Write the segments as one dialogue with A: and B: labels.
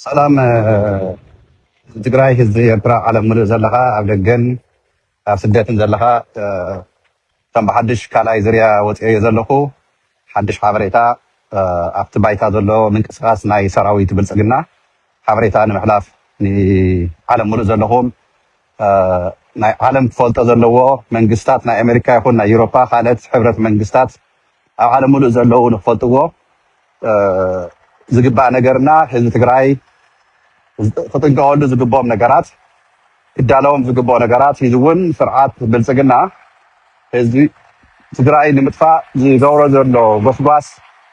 A: ሰላም ህዝቢ ትግራይ፣ ህዝቢ ኤርትራ፣ ዓለም ምሉእ ዘለኻ ኣብ ደገን ኣብ ስደትን ዘለኻ ከም ብሓድሽ ካልኣይ ዝርያ ወፂኦዮ ዘለኹ ሓድሽ ሓበሬታ ኣብቲ ባይታ ዘሎ ምንቅስቃስ ናይ ሰራዊት ብልፅግና ሓበሬታ ንምሕላፍ ንዓለም ሙሉእ ዘለኹም ናይ ዓለም ክፈልጦ ዘለዎ መንግስታት ናይ ኣሜሪካ ይኹን ናይ ዩሮፓ ካልኦት ሕብረት መንግስታት ኣብ ዓለም ሙሉእ ዘለዉ ንክፈልጥዎ ዝግባእ ነገርና ህዝቢ ትግራይ ክጥንቀቐሉ ዝግብኦም ነገራት ክዳለዎም ዝግበኦ ነገራት ሒዙ እውን ስርዓት ብልፅግና ህዝቢ ትግራይ ንምጥፋእ ዝገብሮ ዘሎ ጎስጓስ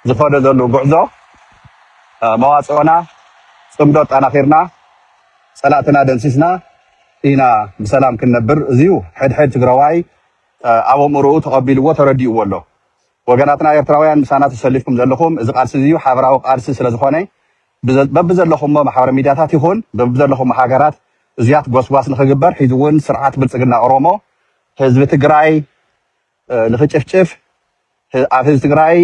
A: ዝኸዶ ዘሉ ጉዕዞ መዋፅኦና ፅምዶ ኣጣናኺርና ፀላእትና ደምሲስና ኢና ብሰላም ክንነብር እዙይ ሕድ ሕድ ትግራዋይ ኣብ ኣእምርኡ ተቐቢልዎ ተረዲእዎ ኣሎ። ወገናትና ኤርትራውያን ምሳና ተሰሊፍኩም ዘለኹም እዚ ቃልሲ እዙይ ሓበራዊ ቃልሲ ስለዝኾነ በብዘለኹሞ ማሕበረ ሚድያታት ይኹን በብዘለኹሞ ሃገራት እዙያት ጎስጓስ ንክግበር ሒዙ እውን ስርዓት ብልፅግና ኦሮሞ ህዝቢ ትግራይ ንክጭፍጭፍ ኣብ ህዝቢ ትግራይ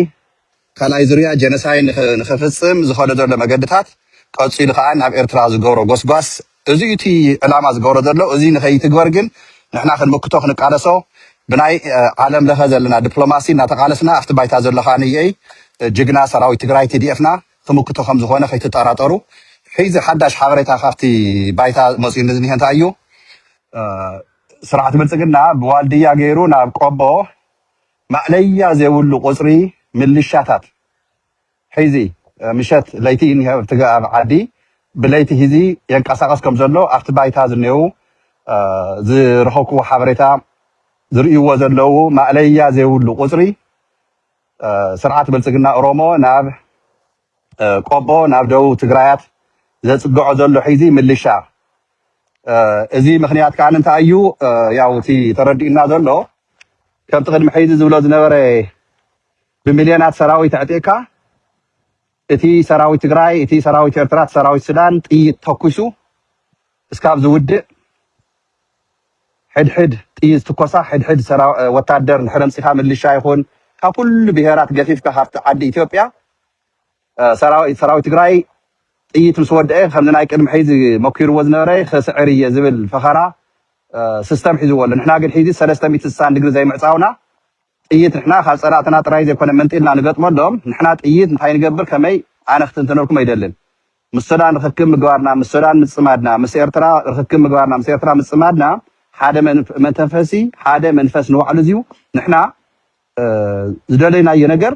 A: ካልኣይ ዙርያ ጀነሳይ ንክፍፅም ዝኸዶ ዘሎ መገድታት ቀፂሉ ከዓ ናብ ኤርትራ ዝገብሮ ጎስጓስ እዚ እዩ እቲ ዕላማ ዝገብሮ ዘሎ እዙይ ንከይትግበር ግን ንሕና ክንምክቶ ክንቃለሶ ብናይ ዓለም ለኸ ዘለና ድፕሎማሲ እናተቃለስና ኣብቲ ባይታ ዘሎ ከዓ ንይ ጅግና ሰራዊት ትግራይ፣ TDF፣ ና ተመክቶ ከም ዝኾነ ከይትጠራጠሩ። ሕዚ ሓዳሽ ሓበሬታ ካብቲ ባይታ መፂኡኒ ዝኒሀ እንታይ እዩ? ስርዓት ብልፅግና ብዋልድያ ገይሩ ናብ ቆቦ ማእለያ ዘይብሉ ቁፅሪ ምልሻታት ሒዙ ምሸት ለይቲ እዩ እኒሀ ኣብቲ ኣብ ዓዲ ብለይቲ ሒዙ የንቀሳቐስ ከም ዘሎ ኣብቲ ባይታ ዝኔዉ ዝረኸብክዎ ሓበሬታ ዝርእይዎ ዘለዉ ማእለያ ዘይብሉ ቁፅሪ ስርዓት ብልፅግና ኦሮሞ ናብ ቆቦ ናብ ደቡብ ትግራያት ዘፅግዖ ዘሎ ሒዚ ምልሻ እዚ ምክንያት ከዓ እንታይ እዩ ያው እቲ ተረዲኡና ዘሎ ከምቲ ቅድሚ ሒዚ ዝብሎ ዝነበረ ብሚልዮናት ሰራዊት ኣዕጢቕካ እቲ ሰራዊት ትግራይ እቲ ሰራዊት ኤርትራ እቲ ሰራዊት ሱዳን ጥይት ተኩሱ እስካብ ዝውድእ ሕድሕድ ጥይት ዝትኮሳ ሕድሕድ ወታደር እንድሕር ኣምፂካ ምልሻ ይኹን ካብ ኩሉ ብሄራት ገፊፍካ ካብቲ ዓዲ ኢትዮጵያ ሰራዊት ትግራይ ጥይት ምስ ወደኤ ከምዚ ናይ ቅድሚ ሕዚ መኪርዎ ዝነበረ ክስዕር እየ ዝብል ፈኸራ ስስተም ሒዝዎ ኣሎ ንሕና ግን ሕዚ ሰለስተ ሚእቲ ስሳን ድግሪ ዘይምዕፃውና ጥይት ንሕና ካብ ፀላእትና ጥራይ ዘይኮነ መንጢልና ንገጥመሎም ንሕና ጥይት እንታይ ንገብር ከመይ ኣነ ክትንተነልኩም ኣይደልን ምስ ሱዳን ርኽክብ ምግባርና ምስ ሱዳን ምፅማድና ምስ ኤርትራ ርኽክብ ምግባርና ምስ ኤርትራ ምፅማድና ሓደ መንተፈሲ ሓደ መንፈስ ንባዕሉ እዚዩ ንሕና ዝደለይናዮ ነገር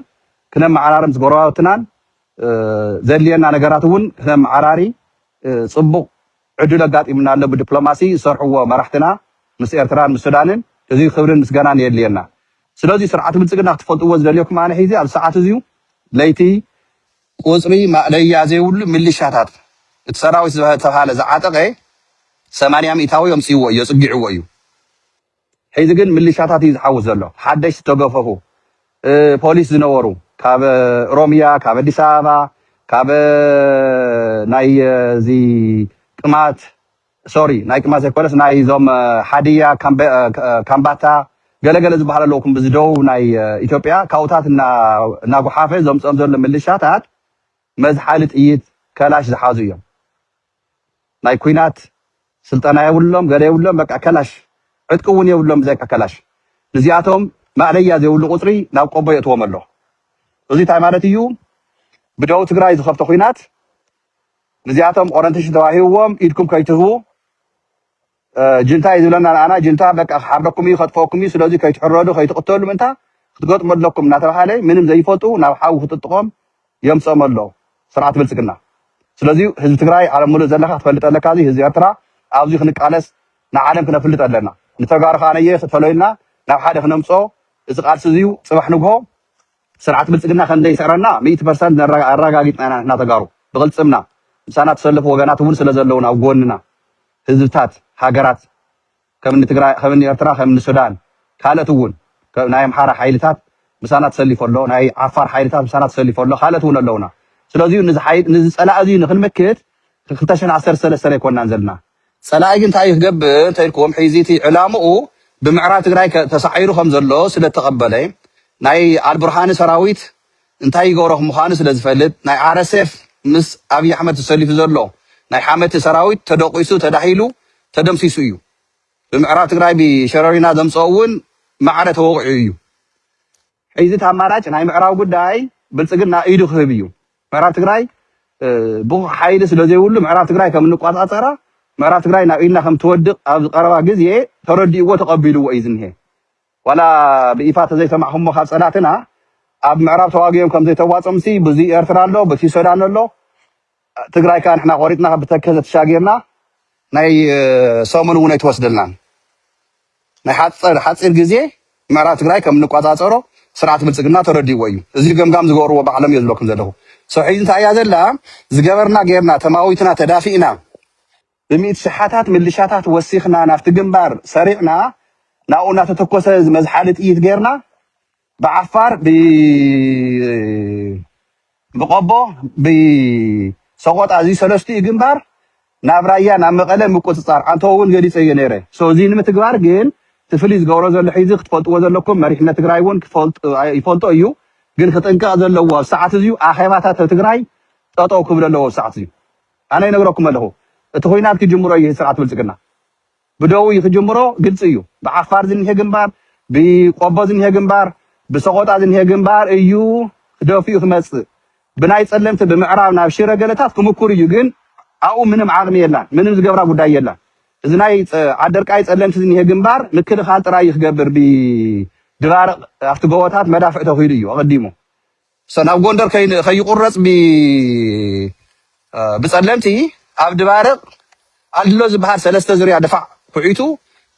A: ክነመዓራርም ምስ ጎረባብትናን ዘድልየና ነገራት እውን ክነመዓራሪ ፅቡቕ ዕድል ኣጋጢሙና ኣሎ ብድፕሎማሲ ዝሰርሕዎ መራሕትና ምስ ኤርትራን ምስ ሱዳንን እዙይ ክብርን ምስገናን የድልየና ስለዙይ ስርዓት ብልፅግና ክትፈልጥዎ ዝደልየኩም ኣነ ሒዚ ኣብዚ ሰዓት እዙይ ለይቲ ቁፅሪ ማእለያ ዘይብሉ ሚሊሻታት እቲ ሰራዊት ዝተብሃለ ዝዓጠቐ ሰማንያ ሚኢታዊ ኣምፂእዎ እዮ ፅጊዕዎ እዩ። ሕዚ ግን ምልሻታት እዩ ዝሓውስ ዘሎ ሓደሽቲ ዝተገፈፉ ፖሊስ ዝነበሩ ካብ ኦሮሚያ ካብ ኣዲስ ኣበባ ካብ ናይ እዚ ቅማት ሶሪ ናይ ቅማት ዘይኮነስ ናይ ዞም ሓድያ ካምባታ ገለገለ ዝበሃል ኣለዉ ክም ብዝደቡብ ናይ ኢትዮጵያ ካብኡታት እናጉሓፈ ዘምፅኦም ዘሎ ምልሻታት መዝሓሊ ጥይት ከላሽ ዝሓዙ እዮም ናይ ኩናት ስልጠና የብሎም ገለ የብሎም በቃ ከላሽ ዕጥቂ ውን የብሎም ብዘይካ ከላሽ ንዚኣቶም ማእለያ ዘይብሉ ቁጽሪ ናብ ቆቦ የእትዎም ኣሎ እዙይ ታይ ማለት እዩ ብደቡብ ትግራይ ዝኸፍቶ ኩናት ንዚኣቶም ኦረንቴሽን ተዋሂብዎም ኢድኩም ከይትህቡ ጅንታ እዩ ዝብለና ንኣና ጅንታ በቃ ክሓርደኩም እዩ ከጥፈኩም እዩ ስለዚ ከይትሕረዱ ከይትቕተሉ ምእንታ ክትገጥሙ ኣለኩም እናተባሃለ ምንም ዘይፈልጡ ናብ ሓዊ ክጥጥቖም የምፅኦም ኣሎ ስርዓት ብልፅግና ስለዚ ህዝቢ ትግራይ ዓለም ሙሉእ ዘለካ ክትፈልጥ ኣለካ እዚ ህዝቢ ኤርትራ ኣብዚ ክንቃለስ ንዓለም ክነፍልጥ ኣለና ንተጋሩ ከዓ ነየ ተለዩልና ናብ ሓደ ክነምፅኦ እዚ ቃልሲ እዚዩ ፅባሕ ንግሆ ስርዓት ብልፅግና ከምዘይስዕረና ሚእቲ ፐርሰንት ኣረጋጊፅና ኢና ንሕና ተጋሩ ብቕልፅምና ምሳና ተሰለፉ ወገናት እውን ስለዘለውን ኣብ ጎንና ህዝብታት ሃገራት ከም እኒ ትግራይ ከም እኒ ኤርትራ ከም እኒ ሱዳን ካልእት እውን ናይ ኣምሓራ ሓይልታት ምሳና ተሰሊፎ ኣሎ ናይ ዓፋር ሓይልታት ምሳና ተሰሊፎ ኣሎ ካልእት እውን ኣለውና ስለዚ ንዚ ሓይል ንዚ ጸላኢ እዚ ንክንመክት ክልተ ሽሕን ዓሰርተ ሰለስተን ኣይኮናን ዘለና ጸላኢ ግን እንታይ እዩ ክገብር እንተኢልኩም ሒዚ እቲ ዕላምኡ ብምዕራብ ትግራይ ተሳዒሩ ከም ዘሎ ስለ ተቐበለ ናይ ኣልቡርሃኒ ሰራዊት እንታይ ይገብሮ ምዃኑ ስለ ዝፈልጥ ናይ RSF ምስ ኣብይ ኣሕመድ ተሰሊፉ ዘሎ ናይ ሓመቲ ሰራዊት ተደቂሱ ተዳሂሉ ተደምሲሱ እዩ ብምዕራብ ትግራይ ብሸረሪና ዘምፀኦ እውን ማዕረ ተወቂዑ እዩ ሕዚ እቲ ኣማራጭ ናይ ምዕራብ ጉዳይ ብልፅግና ኢዱ ክህብ እዩ ምዕራብ ትግራይ ብቑዕ ሓይሊ ስለ ዘይብሉ ምዕራብ ትግራይ ከም እንቋፃፀራ ምዕራብ ትግራይ ናብ ኢድና ከም ትወድቕ ኣብዚ ቀረባ ግዜ ተረዲእዎ ተቐቢልዎ እዩ ዝኒሀ ዋላ ብኢፋ ተዘይሰማዕኹሞ ካብ ፀላእትና ኣብ ምዕራብ ተዋጊኦም ከምዘይተዋፆምሲ ብዙይ ኤርትራ ኣሎ ብዙይ ሶዳን ኣሎ ትግራይ ካኣ ንሕና ቆሪፅና ብተከዘ ተሻጊርና ናይ ሰሙን እውን ኣይትወስደልናን ናይ ሓፀር ሓፂር ግዜ ምዕራብ ትግራይ ከም እንቋፃፀሮ ስርዓት ብልፅግና ተረዲእዎ እዩ እዙይ ገምጋም ዝገበርዎ ባዕሎም እየ ዝብለኩም ዘለኹ ሰው ሕዚ እንታይ እያ ዘላ ዝገበርና ገይርና ተማዊትና ተዳፊእና ብሚእቲ ሽሓታት ምልሻታት ወሲኽና ናብቲ ግንባር ሰሪዕና ናብኡ እናተተኮሰ መዝሓሊ ጥይት ገይርና ብዓፋር ብቆቦ ብሰቆጣ እዚ ሰለስቲኡ ግንባር ናብ ራያ ናብ መቐለ ምቁፅፃር ኣንተኡ እውን ገሊፀዮ ነይረ ሶ እዚ ንምትግባር ግን እቲ ፍልይ ዝገብሮ ዘሎ ሒዚ ክትፈልጥዎ ዘለኩም መሪሕነት ትግራይ እውን ይፈልጦ እዩ ግን ክጥንቀቕ ዘለዎ ኣብዚ ሰዓት እዚዩ ኣኼባታት ኣብ ትግራይ ጠጠው ክብሉ ኣለዎ ኣብዚ ሰዓት እዚዩ ኣነ ይነግረኩም ኣለኩ እቲ ኩናት ክጅምሮ እዪ ስርዓት ብልፅግና ብደዉ እዪ ክጅምሮ ግልፂ እዩ ብዓፋር ዝኒሀ ግንባር ብቆቦ ዝኒሀ ግንባር ብሰቆጣ ዝኒሀ ግንባር እዩ ክደፊኡ ክመፅእ ብናይ ፀለምቲ ብምዕራብ ናብ ሽረ ገለታት ክምኩር እዩ ግን ኣብኡ ምንም ዓቅሚ የላን ምንም ዝገብራ ጉዳይ የላን እዚ ናይ ዓደርቃይ ፀለምቲ ዝኒሀ ግንባር ምክልኻል ጥራይ እዩ ክገብር ብድባርቅ ኣብቲ ጎቦታት መዳፍዕ ተኪሉ እዩ ኣቀዲሙ እሰ ናብ ጎንደር ከይ ከይቁረጽ ብ ብጸለምቲ ኣብ ድባርቅ ኣልድሎ ዝብሃል ሰለስተ ዝርያ ድፋዕ ኩዒቱ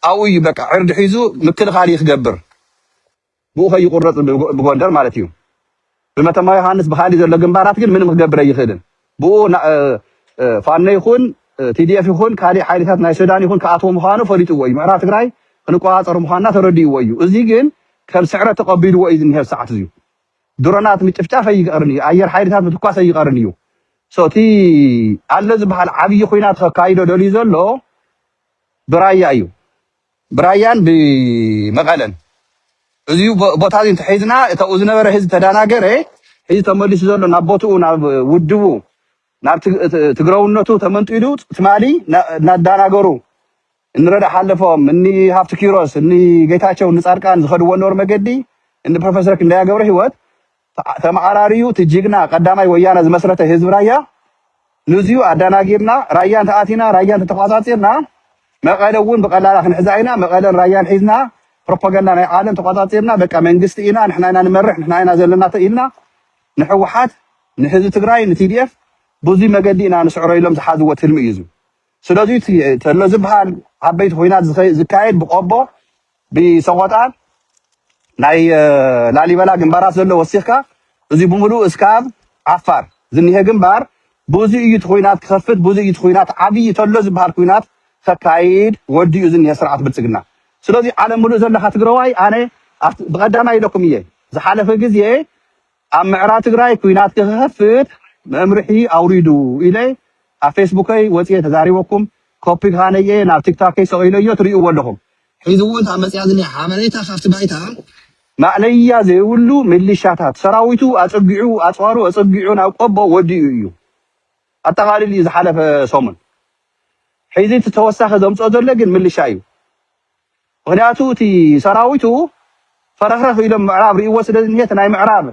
A: ኣብኡ እዩ በቃ ዕርዲ ሒዙ ምክልኻል እዩ ክገብር ብኡ ከይቁረጽ ብጎ- ብጎንደር ማለት እዩ ብመተማ ዮሃንስ ብካሊእ ዘሎ ግንባራት ግን ምንም ክገብር ኣይኽእልን ብኡ ና- እ፣ እ፣ ፋኖ ይኹን ቲዲኤፍ ይኹን ካሊእ ሓይልታት ናይ ሱዳን ይኹን ክኣትዎ ምዃኑ ፈሊጥዎ እዩ ምዕራብ ትግራይ ክንቆፃፀር ምዃንና ተረዲእዎ እዩ እዚ ግን ከም ስዕረት ተቐቢልዎ እዩ ዝኒሀ ሰዓት እዚዩ ድሮናት ምጭፍጫፍ ኣይቀርን እዩ ኣየር ሓይልታት ምትኳስ ኣይቀርን እዩ ሶ እቲ ኣሎ ዝበሃል ዓብዪ ኩናት ከካይዶ ደልዩ ዘሎ ብራያ እዩ ብራያን ብመቐለን እዚ ቦታ እዚ እንተሒዝና እታብኡ ዝነበረ ህዝቢ ተዳናገረ ሕዚ ተመሊሱ ዘሎ ናብ ቦትኡ ናብ ውድቡ ናብ ትግረውነቱ ተመንጢሉ ትማሊ እናዳናገሩ እኒ ረዳ ሓለፎም፣ እኒ ሃፍቱ ኪሮስ፣ እኒ ጌታቸው፣ እኒ ፃድቃን ዝኸድዎ ነበሩ መገዲ፣ እኒ ፕሮፌሰር ክንደያ ገብረህይወት ተዓ- ተመዓራርዩ እቲ ጅግና ቀዳማይ ወያነ ዝመስረተ ህዝቢ ራያ ንዚዩ ኣዳናጊርና ራያ እንተኣቲና ራያ እንተተቋፃፂርና መቐለ እውን ብቐላላ ክንሕዛ ኢና መቐለን ራያን ሒዝና ፕሮፓጋንዳ ናይ ዓለም ተቋፃፂርና በቃ መንግስቲ ኢና ንሕና ኢና ንመርሕ ንሕና ኢና ዘለና ተ- ኢልና ንሕወሓት ንህዝቢ ትግራይ ንቲዲኤፍ ብዙይ መገዲ ኢና ንስዕሮ ኢሎም ዝሓዝዎ ትልሚ እዩ እዚ ስለዚ እቲ ተሎ ዝብሃል ዓበይቲ ኹናት ዝኸ- ዝካየድ ብቆቦ ብሰቆጣን ናይ እ፣ ላሊበላ ግንባራት ዘሎ ወሲኽካ እዚ ብምሉኡ እስካብ ዓፋር ዝኒሀ ግንባር ብዙ እዩ እቲ ኹናት ክኸፍት ብዙ እዩ እቲ ኹናት ዓብዪ ተሎ ዝብሃል ኹናት ከካይድ ወዲኡ ዝኒሀ ስርዓት ብልፅግና ስለዚ ዓለም ምሉእ ዘለኻ ትግረዋይ ኣነ ኣብቲ- ብቀዳማይ ኢለኩም እየ ዝሓለፈ ግዜ ኣብ ምዕራ ትግራይ ኩናት ክክከፍት መምርሒ ኣውሪዱ ኢለ ኣብ ፌስቡከይ ወፅየ ተዛሪበኩም ኮፒ ካነየ ናብ ቲክታከይ ሰቂለዮ ትሪእዎ ኣለኹም። ሕዚ እውን እታ መፅያ ዝኒኣ ሓበሬታ ካብቲ ባይታ ማእለያ ዘይብሉ ሚሊሻታት ሰራዊቱ ኣፀጊዑ ኣፅዋሩ ኣፀጊዑ ናብ ቆቦ ወዲኡ እዩ ኣጠቃሊሉ እዩ ዝሓለፈ ሰሙን። ሕዚ እቲ ተወሳኺ ዘምፅኦ ዘሎ ግን ሚሊሻ እዩ። ምኽንያቱ እቲ ሰራዊቱ ፈረኽረኽ ኢሎም ምዕራብ ሪእዎ ስለ ዝኒሀ እቲ ናይ ምዕራብ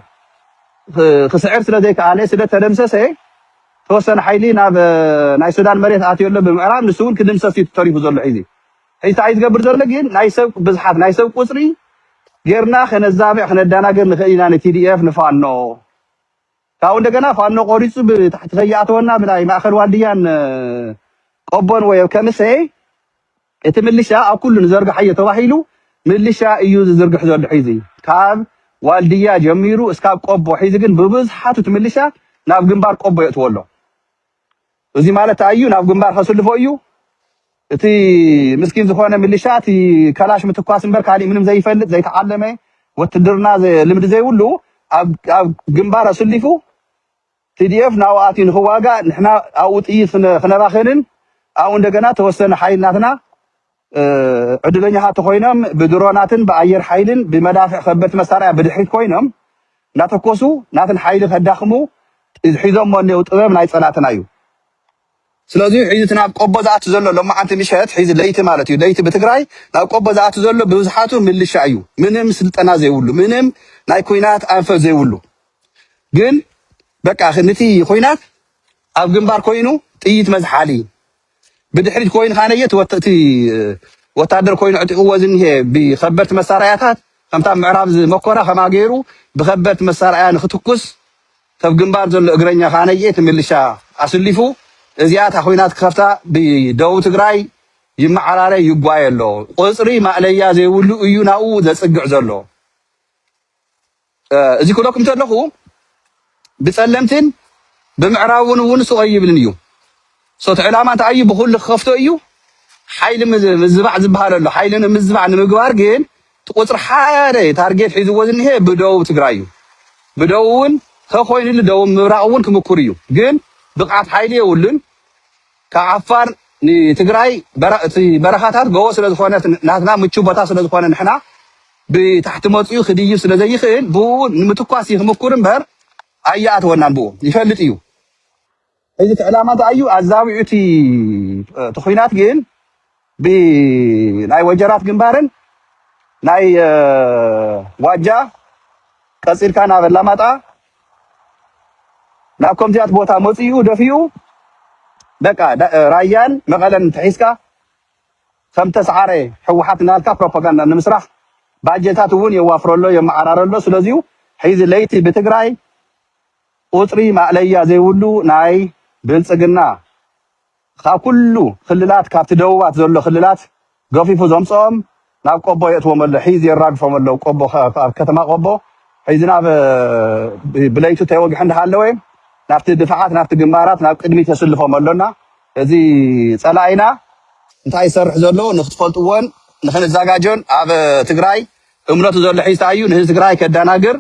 A: ክስዕር ስለ ዘይከኣለ ስለ ተደምሰሰ ተወሰነ ሓይሊ ናብ ናይ ሱዳን መሬት ኣትዮ ኣሎ ብምዕራብ ንሱ እውን ክድምሰስ እዩ ተሪፉ ዘሎ ሒዚ ሒዚ እንታይ ዝገብር ዘሎ ግን ናይ ሰብ ብዝሓት ናይ ሰብ ቁፅሪ ጌርና ከነዛብዕ ክነደናገር ንኽእል ኢና ንቲዲኤፍ ንፋኖ ካብኡ እንደገና ፋኖ ቆሪፁ ብታሕቲ ከይኣተወና ብናይ ማእኸል ዋልድያን ቆቦን ወይ ከሚሴ እቲ ምልሻ ኣብ ኩሉ ንዘርግሓዮ ተባሂሉ ምልሻ እዩ ዝዝርግሕ ዘሎ ሒዚ ካብ ዋልድያ ጀሚሩ እስካብ ቆቦ ሒዚ ግን ብብዝሓቱ እቲ ምልሻ ናብ ግንባር ቆቦ የእትዎ ኣሎ እዙይ ማለት ታይ እዩ ናብ ግንባር ከስልፎ እዩ እቲ ምስኪን ዝኾነ ምልሻ እቲ ከላሽ ምትኳስ እምበር ካሊእ ምንም ዘይፈልጥ ዘይተዓለመ ወትድርና ልምዲ ዘይብሉ ኣብ ግንባር ኣስሊፉ Tdf ናብኡ ኣትዩ ንክዋጋእ ንሕና ኣብኡ ጥይት ክነባኽንን ኣብኡ እንደገና ተወሰነ ሓይሊ ናትና ዕድለኛታት ተኾይኖም ብድሮናትን ብኣየር ሓይልን ብመዳፍዕ ከበድቲ መሳርያ ብድሕሪት ኮይኖም እናተኮሱ ናትን ሓይሊ ከዳኽሙ ሒዞሞ እኔዉ ጥበብ ናይ ፀላእትና እዩ ስለዚ ዩ ሕዚ እቲ ናብ ቆቦ ዝኣቲ ዘሎ ሎማዓንቲ ምሸት ሕዚ ለይቲ ማለት እዩ ለይቲ ብትግራይ ናብ ቆቦ ዝኣቲ ዘሎ ብብዝሓቱ ምልሻ እዩ ምንም ስልጠና ዘይብሉ ምንም ናይ ኩናት ኣንፈት ዘይብሉ ግን በቃ ንቲ ኩናት ኣብ ግንባር ኮይኑ ጥይት መዝሓሊ ብድሕሪት ኮይኑ ካነየ እቲ ወታደር ኮይኑ ዕጢቕዎ ዝኒሄ ብከበድቲ መሳርያታት ከምታ ምዕራብ ዝመኮራ ከማ ገይሩ ብከበድቲ መሳርያ ንክትኩስ እብ ግንባር ዘሎ እግረኛ ከኣ ነየቲ ምልሻ ኣስሊፉ እዚኣ እታ ኩናት ክከፍታ ብደቡብ ትግራይ ይመዓራረ ይጓየ ኣሎ ቁፅሪ ማእለያ ዘይብሉ እዩ ናብኡ ዘፅግዕ ዘሎ እዚ ክብለኩም ተለኹ ብፀለምትን ብምዕራብን እውን ስቆይ ይብልን እዩ ሶት ዕላማ እንታይ እዩ ብኹሉ ክኸፍቶ እዩ ሓይሊ ምዝባዕ ዝበሃል ኣሎ ሓይሊ ንምዝባዕ ንምግባር ግን እቲ ቁፅሪ ሓደ ታርጌት ሒዝዎ ዝኒሀ ብደቡብ ትግራይ እዩ ብደቡብ እውን ተኾይኑሉ ደቡብ ምብራቕ እውን ክምኩር እዩ ግን ብቕዓት ሓይሊ የብሉን ካብ ዓፋር ንትግራይ እቲ በረኻታት ጎቦ ስለዝኾነ ናትና ምቹው ቦታ ስለዝኾነ ንሕና ብታሕቲ መፅኡ ክድይብ ስለዘይኽእል ብኡ ንምትኳስ ይክምኩር እምበር ኣያኣተወናን ብኡ ይፈልጥ እዩ ሕዚ እቲ ዕላማ እንታይ እዩ? ኣዛብኡ እቲ እቲ ኹናት ግን ብናይ ወጀራት ግንባርን ናይ እ፣ ዋጃ ቀጺልካ ናብ ኣላማጣ ናብ ከምዚያት ቦታ መጺኡ ደፊኡ በቃ ዳ- እ፣ ራያን መቐለን እንተሒዝካ ከም ተስዓረ ህወሓት እናልካ ፕሮፓጋንዳ ንምስራሕ ባጀታት እውን የዋፍረሎ የመዓራረሎ ስለዚዩ ሕዚ ለይቲ ብትግራይ ቁጽሪ ማእለያ ዘይብሉ ናይ ብልጽግና ካብ ኩሉ ክልላት ካብቲ ደቡባት ዘሎ ክልላት ገፊፉ ዘምጽኦም ናብ ቆቦ የእትዎም ኣሎ ሒዝ የራግፎም ኣሎ ቆቦ ኣብ ከተማ ቆቦ ሕይ ዝናብ ብለይቱ ተይወግሕ እንዳሃለወ ናብቲ ድፋዓት ናብቲ ግንባራት ናብ ቅድሚት የስልፎም ኣሎና እዚ ጸላኢና እንታይ ዝሰርሕ ዘሎ ንክትፈልጥዎን ንክንዛጋጆን ኣብ ትግራይ እምነቱ ዘሎ ሒዝታ እዩ ንህዝቢ ትግራይ ከዳናግር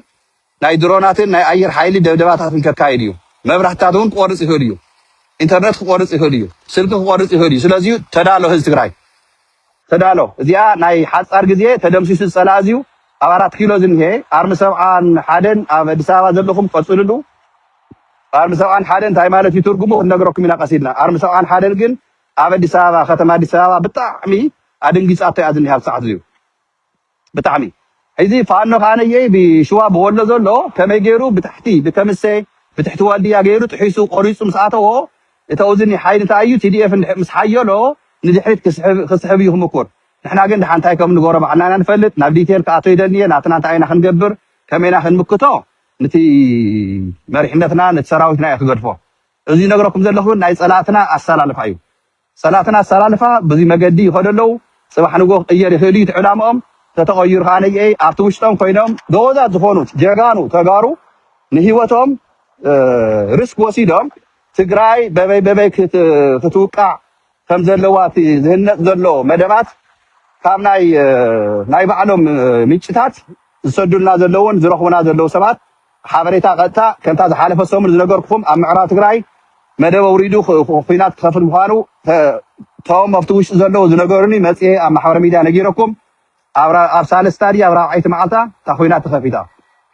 A: ናይ ድሮናትን ናይ ኣየር ሓይሊ ደብደባታትን ከካይድ እዩ። መብራህትታት እውን ክቆርፅ ይኽእል እዩ። ኢንተርነት ክቆርፅ ይኽእል እዩ። ስልኪ ክቆርፅ ይኽእል እዩ። ስለዚ ተዳሎ ህዝቢ ትግራይ ተዳሎ። እዚኣ ናይ ሓፃር ግዜ ተደምሲሱ ዝፀላእዝ እዩ። ኣብ ኣራት ኪሎ ዝኒሀ ኣርሚ ሰብዓን ሓደን ኣብ ኣዲስ ኣበባ ዘለኹም ቀፅልሉ። ኣርሚ ሰብዓን ሓደን እንታይ ማለት እዩ ትርጉሙ ክንነግረኩም ኢና ቀስ ኢልና። ኣርሚ ሰብዓን ሓደን ግን ኣብ ኣዲስ ኣበባ ከተማ ኣዲስ ኣበባ ብጣዕሚ ኣደንጊፃቶ እያ ዝኒሃ ኣብዚ ሰዓት እዚዩ። ብጣዕሚ እዚ ፋኖ ከኣ ነየኢ ብሽዋ ብወሎ ዘሎ ከመይ ገይሩ ብታሕቲ ብከምሰ ብትሕቲ ዋልድያ ገይሩ ጥሒሱ ቆሪጹ ምስ ኣተዎ እተው እዚ ኒሓይል እንታይ እዩ TDF እንድሕር ምስ ሓየሎ ንድሕሪት ክስሕብ ክስሕብ እዩ ክምኩር ንሕና ግን ድሓን እንታይ ከም ንገሮ ባዕልና ኢና ንፈልጥ ናብ ዲቴል ክኣቶ ይደልንየ ናትና እንታይ ኢና ክንገብር ከመይ ኢና ክንምክቶ ንቲ መሪሕነትና ንቲ ሰራዊትና እየ ክገድፎ እዚ ዝነግረኩም ዘለኹ ግን ናይ ጸላእትና ኣሰላልፋ እዩ ጸላእትና ኣሰላልፋ ብዙይ መገዲ ይኸዱ ኣለዉ። ጽባሕ ንግሆ ክቕየር ይኽእል'ዩ እቲ ዕላምኦም። ተተቐይሩ ከኣ ነይኤይ ኣብቲ ውሽጦም ኮይኖም ጎበዛት ዝኾኑ ጀጋኑ ተጋሩ ንህይወቶም ርስክ ወሲዶም ትግራይ በበይ በበይ ክትውቃዕ ከምዘለዋ እቲ ዝህነጽ ዘሎ መደባት ካብ ናይ ናይ ባዕሎም ምንጭታት ዝሰዱልና ዘለዉን ዝረኽቡና ዘለዉ ሰባት ሓበሬታ ቀጥታ ከምታ ዝሓለፈ ሰሙን ዝነገርኩኹም ኣብ ምዕራብ ትግራይ መደብ ኣውሪዱ ኹናት ክኸፍት ምዃኑ ቶም ኣብቲ ውሽጢ ዘለዉ ዝነገሩኒ መፅኤ ኣብ ማሕበረ ሚድያ ነጊረኩም ኣብ ሳልስታ ድያ ኣብ ራብዓይቲ መዓልታ እታ ኹናት ተኸፊታ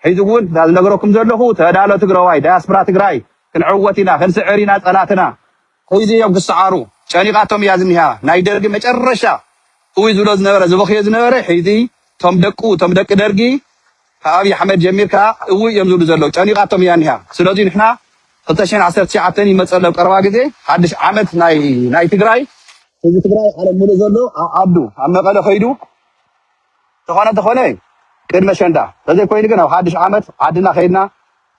A: ሕዚ እውን እዛ ዝነገረኩም ዘለኹ ተዳሎ ትግራዋይ ዳያስፕራ ትግራይ ክንዕወት ኢና ክንስዕር ኢና ፀላእትና ሕዚ እዮም ክሰዓሩ ጨኒቃቶም እያ ዝኒሃ ናይ ደርጊ መጨረሻ እውይ ዝብሎ ዝነበረ ዝበኽዮ ዝነበረ ሕዚ እቶም ደቁ እቶም ደቂ ደርጊ ካብ ኣብይ ኣሕመድ ጀሚርካ እውይ እዮም ዝብሉ ዘለው ጨኒቃቶም እያ ዝኒሃ ስለዙይ ንሕና ክልተ ሽሕን ዓሰርተ ትሽዓተን ይመፅእ ኣሎ ኣብ ቀረባ ግዜ ሓድሽ ዓመት ናይ ናይ ትግራይ ህዝቢ ትግራይ ዓለም ሙሉእ ዘሎ ኣብ ዓዱ ኣብ መቐለ ከይዱ ተኾነ ተኾነ ቅድሚ ኣሸንዳ ተዘይኮይኑ ግን ኣብ ሓድሽ ዓመት ዓድና ከይድና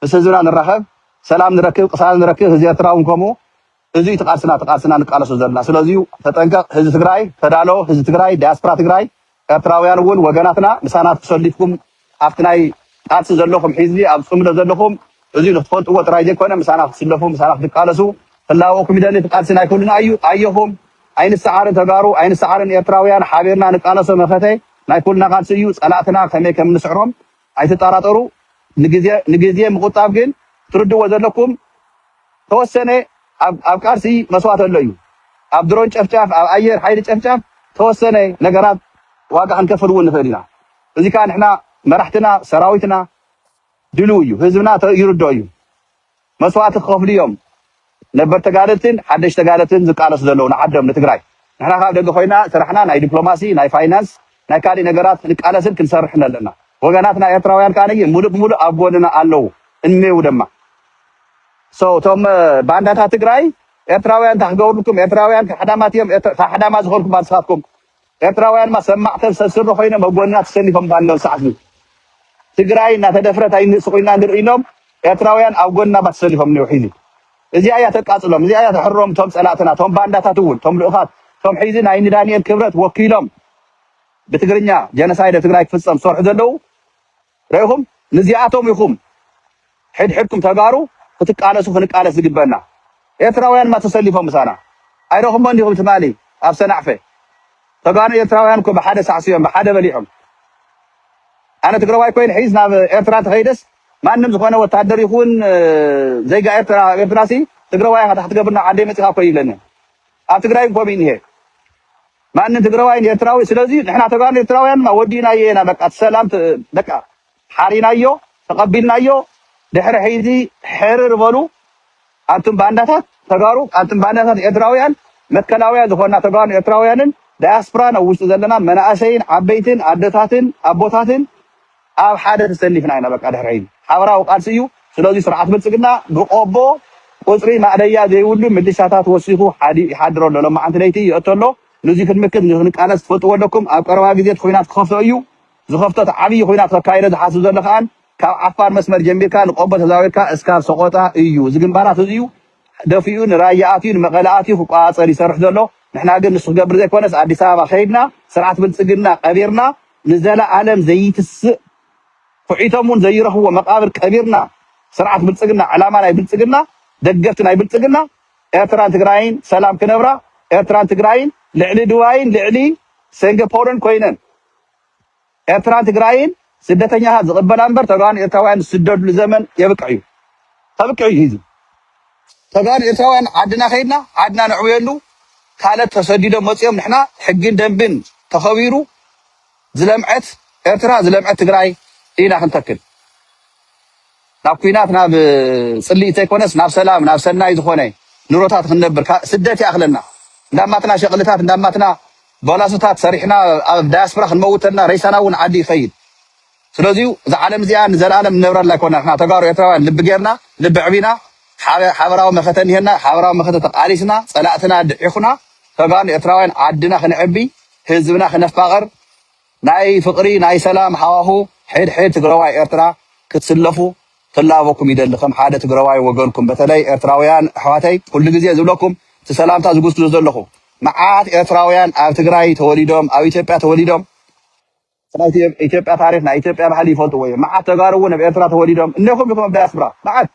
A: ምስ ህዝብና ንራኸብ ሰላም ንረክብ ቅሳነት ንረክብ ህዝቢ ኤርትራ ውን ከምኡ እዚ እዩ ትቃልስና ትቃልስና ንቃለሶ ዘለና ስለዚ ተጠንቀቅ ህዝቢ ትግራይ ተዳሎ ህዝቢ ትግራይ ዳያስፕራ ትግራይ ኤርትራውያን እውን ወገናትና ምሳና ተሰሊፍኩም ኣብቲ ናይ ቃልሲ ዘለኹም ሒዝቢ ኣብ ጽምዶ ዘለኹም እዚ ንክትፈልጥዎ ጥራይ ዘይኮነ ምሳና ክትስለፉ ምሳና ክትቃለሱ ክላበወኩም ይደሊ እቲ ቃልሲ ናይ ኩልና ኣዩ ኣየኹም ኣይንሳዓርን ተጋሩ ኣይንሳዓርን ኤርትራውያን ሓቢርና ንቃለሶ መኸተ ናይ ኩልና ቃልሲ እዩ ጸላእትና ከመይ ከምንስዕሮም ኣይትጣራጠሩ ንግዜ ንግዜ ምቁጣብ ግን ክትርድዎ ዘለኩም ተወሰነ ኣብ ኣብ ቃልሲ መስዋእቲ ኣሎ እዩ ኣብ ድሮን ጨፍጫፍ ኣብ ኣየር ሓይሊ ጨፍጫፍ ተወሰነ ነገራት ዋጋ ክንከፍል እውን ንኽእል ኢና እዚ ከዓ ንሕና መራሕትና ሰራዊትና ድልው እዩ ህዝብና ይርድኦ እዩ መስዋእቲ ክከፍሉ እዮም ነበር ተጋደልትን ሓደሽ ተጋደልትን ዝቃለሱ ዘለው ንዓዶም ንትግራይ ንሕና ካብ ደገ ኮይና ስራሕና ናይ ዲፕሎማሲ ናይ ፋይናንስ ናይ ካሊእ ነገራት ክንቃለስን ክንሰርሕን ኣለና ወገናትና ኤርትራውያን ከኣ ሙሉእ ብሙሉእ ኣብ ጎንና ኣለው እንሜው ደማ ሰው እቶም ባንዳታት ትግራይ ኤርትራውያን እንታይ ክገብርልኩም ኤርትራውያን ካሕዳማት እዮም ካሕዳማ ዝኮንኩም ኣንስካትኩም ኤርትራውያን ድማ ሰብ ማዕተብ ሰብ ስሪ ኮይኖም ኣብ ጎንና ተሰሊፎም ባለው ሰዓትዚ ትግራይ እናተደፍረት ኣይንእስ ኮይና ንርኢ ኢሎም ኤርትራውያን ኣብ ጎንና ባ ተሰሊፎም እኒው ሒዚ እዚኣ እያ ተቃፅሎም እዚኣ እያ ተሕሮም እቶም ፀላእትና እቶም ባንዳታት እውን እቶም ልኡኻት እቶም ሒዚ ናይ ንዳንኤል ክብረት ወኪሎም ብትግርኛ ጀነሳይድ ኣብ ትግራይ ክፍፀም ዝሰርሑ ዘለው ረኢኹም ንዚኣቶም ኢኹም ሕድሕድኩም ተጋሩ ክትቃለሱ ክንቃለስ ዝግበና ኤርትራውያን እማ ተሰሊፎም ምሳና ኣይረኹሞን ዲኹም ትማሊ ኣብ ሰናዕፈ ተጋኑ ኤርትራውያን እኮ ብሓደ ሳዕሲዮም ብሓደ በሊዖም ኣነ ትግራዋይ ኮይን ሒዝ ናብ ኤርትራ ተኸይደስ ማንም ዝኾነ ወታደር ይኹን ዜጋ ኤርትራ ኣብ ኤርትራሲ ትግራዋይ ኢኻ ታሕቲ ገብርና ዓደይ መጺኻ እኮ ይብለኒ ኣብ ትግራይ ኮም እዩ እኒሀ ማንም ትግረዋይን ኤርትራዊ ስለዚ ንሕና ተጋሩ ኤርትራውያን ድማ ወዲእናዮ ኢና በቃ እቲ ሰላም ተ በቃ ሓሪናዮ ተቀቢልናዮ ድሕሪ ሕይዚ ሕርር በሉ ኣንቱም ባንዳታት ተጋሩ ኣንቱም ባንዳታት ኤርትራውያን መትከላውያን ዝኾንና ተጋሩን ኤርትራውያንን ዳያስፕራን ኣብ ውሽጢ ዘለና መናእሰይን ዓበይትን ኣደታትን ኣቦታትን ኣብ ሓደ ተሰሊፍና ኢና በቃ ድሕሪ ሕይ ሓበራዊ ቃልሲ እዩ ስለዙይ ስርዓት ብልፅግና ብቆቦ ቁፅሪ ማእለያ ዘይብሉ ምልሻታት ወሲኹ ሓዲኡ ይሓድር ኣሎ ሎማዓንቲ ለይቲ ይእቶ ኣሎ ንዙይ ክንምክት ንክንቃለስ ትፈልጥዎ ኣለኩም ኣብ ቀረባ ግዜ እቲ ኹናት ክኸፍቶ እዩ ዝኸፍቶ እቲ ዓብይ ኹናት ከካይዶ ዝሓስብ ዘሎ ከኣን ካብ ዓፋር መስመር ጀሚርካ ንቆቦ ተዛዊርካ እስካብ ሰቆጣ እዩ እዚ ግንባራት እዙዩ ደፊኡ ንራያ ኣትዩ ንመቐለ ኣትዩ ክቋፃፀር ይሰርሕ ዘሎ ንሕና ግን ንሱ ክገብር ዘይኮነስ ኣዲስ ኣበባ ከይድና ስርዓት ብልፅግና ቀቢርና ንዘለኣለም ዘይትስእ ኩዒቶም ውን ዘይረኽብዎ መቓብር ቀቢርና ስርዓት ብልፅግና ዕላማ ናይ ብልፅግና ደገፍቲ ናይ ብልፅግና ኤርትራን ትግራይን ሰላም ክነብራ ኤርትራን ትግራይን ልዕሊ ድባይን ልዕሊ ሴንገፖርን ኮይነን ኤርትራን ትግራይን ስደተኛታት ዝቕበላ እምበር ተጋሩን ኤርትራውያን ዝስደድሉ ዘመን የብቅዕ እዩ ከብቅዕ እዩ እዚ ተጋሩ ኤርትራውያን ዓድና ከይድና ዓድና ነዕብየሉ ካልእ ተሰዲዶም መጺኦም ንሕና ሕግን ደንብን ተኸቢሩ ዝለምዐት ኤርትራ ዝለምዐት ትግራይ ኢና ክንተክል ናብ ኩናት ናብ ጽልኢ ተይኮነስ ናብ ሰላም ናብ ሰናይ ዝኾነ ንሮታት ክንነብር ካ- ስደት ይኣኽለና እንዳማትና ሸቕልታት እንዳማትና ባላሶታት ሰሪሕና ኣብ ዳያስፖራ ክንመውተልና ረይሳና እውን ዓዲ ይኸይድ ስለዚ እዛ ዓለም እዚኣ ንዘልኣለም ንነብረላ ኣይኮና ንሕና ተጋሩ ኤርትራውያን ልቢ ጌርና ልቢ ኣዕቢና ሓበ ሓበራዊ መኸተ እኒሀና ሓበራዊ መኸተ ተቃሊስና ጸላእትና ድዒኹና ተጋሩ ኤርትራውያን ዓድና ክነዕቢ ህዝብና ክነፋቕር ናይ ፍቕሪ ናይ ሰላም ሃዋሁ ሕድ ሕድ ትግራዋይ ኤርትራ ክትስለፉ ክላበኩም ይደሊ ከም ሓደ ትግራዋይ ወገንኩም በተለይ ኤርትራውያን ኣሕዋተይ ኩሉ ግዜ ዝብለኩም እቲ ሰላምታ ዝጉስጉሶ ዘለኹ መዓት ኤርትራውያን ኣብ ትግራይ ተወሊዶም ኣብ ኢትዮጵያ ተወሊዶም ናይ ኢትዮ- ኢትዮጵያ ታሪክ ናይ ኢትዮጵያ ባህሊ ይፈልጥዎ እዮም መዓት ተጋሩ እውን ኣብ ኤርትራ ተወሊዶም እነኹም ኢኹም ኣብ ዳያስፕራ መዓት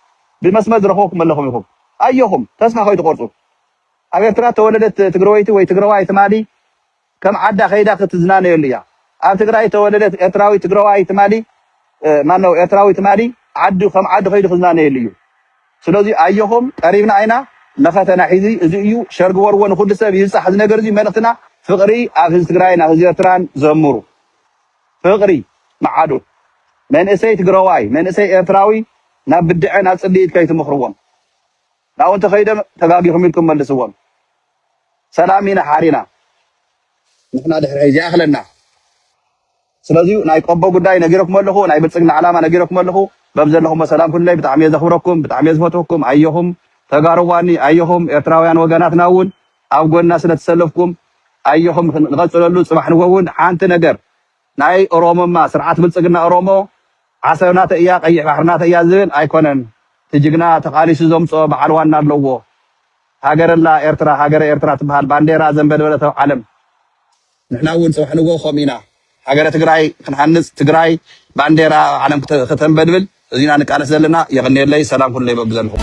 A: ብመስመር ዝረኽቡኩም ኣለኹም ኢኹም ኣዮኹም ተስፋ ከይትቆርፁ ኣብ ኤርትራ ተወለደት ትግረወይቲ ወይ ትግረዋይ ትማሊ ከም ዓዳ ከይዳ ክትዝናነየሉ እያ ኣብ ትግራይ ተወለደት ኤርትራዊ ትግረዋይ ትማሊ እ፣ ማነው ኤርትራዊ ትማሊ ዓዱ ከም ዓዱ ከይዱ ክዝናነየሉ እዩ ስለዚ ኣዮኹም ቀሪብና ኢና መኸተና ሒዚ እዚ እዩ ሸር ግበርዎ ንኹሉ ሰብ ይብጻሕ እዚ ነገር እዚ መልእኽትና ፍቕሪ ኣብ ህዝቢ ትግራይን ኣብ ህዝቢ ኤርትራን ዘምሩ ፍቕሪ ምዓዱ መንእሰይ ትግረዋይ መንእሰይ ኤርትራዊ ናብ ብድዐ ናብ ጽልኢት ከይትምኽርዎም ናብኡ እንተኸይዶም ተጋጊኹም ኢልኩም መልስዎም ሰላም ኢና ሓሪና ንሕና ድሕሪ ሕጂ ይኣኽለና። ስለዚ ናይ ቆቦ ጉዳይ ነጊረኩም ኣለኹ ናይ ብልፅግና ዕላማ ነጊረኩም ኣለኹ በብዘለኹሞ ሰላም ኩኑለይ ብጣዕሚ እየ ዘኽብረኩም ብጣዕሚ እየ ዝፈትወኩም ኣየኹም ተጋሩ ዋኒ ኣየኹም ኤርትራውያን ወገናትና እውን ኣብ ጎንና ስለትሰለፍኩም ኣየኹም ንቐፅለሉ ፅባሕ ንጎ እውን ሓንቲ ነገር ናይ ኦሮሞማ ስርዓት ብልፅግና ኦሮሞ ዓሰብ ናተይ እያ ቀይሕ ባሕሪ ናተይ እያ ዝብል ኣይኮነን እቲ ጅግና ተቓሊሱ ዘምፅኦ በዓል ዋና ኣለዎ ሃገር ኣላ ኤርትራ ሃገረ ኤርትራ ትበሃል ባንዴራ ዘንበልበለት ኣብ ዓለም ንሕና እውን ፅባሕ ንጎሆ ከምኡ ኢና ሃገረ ትግራይ ክንሃንፅ ትግራይ ባንዴራ ኣብ ዓለም ክተንበልብል እዚ ኢና ንቃለስ ዘለና። የቕንየለይ ሰላም ኩነለይ በብዘለኹም።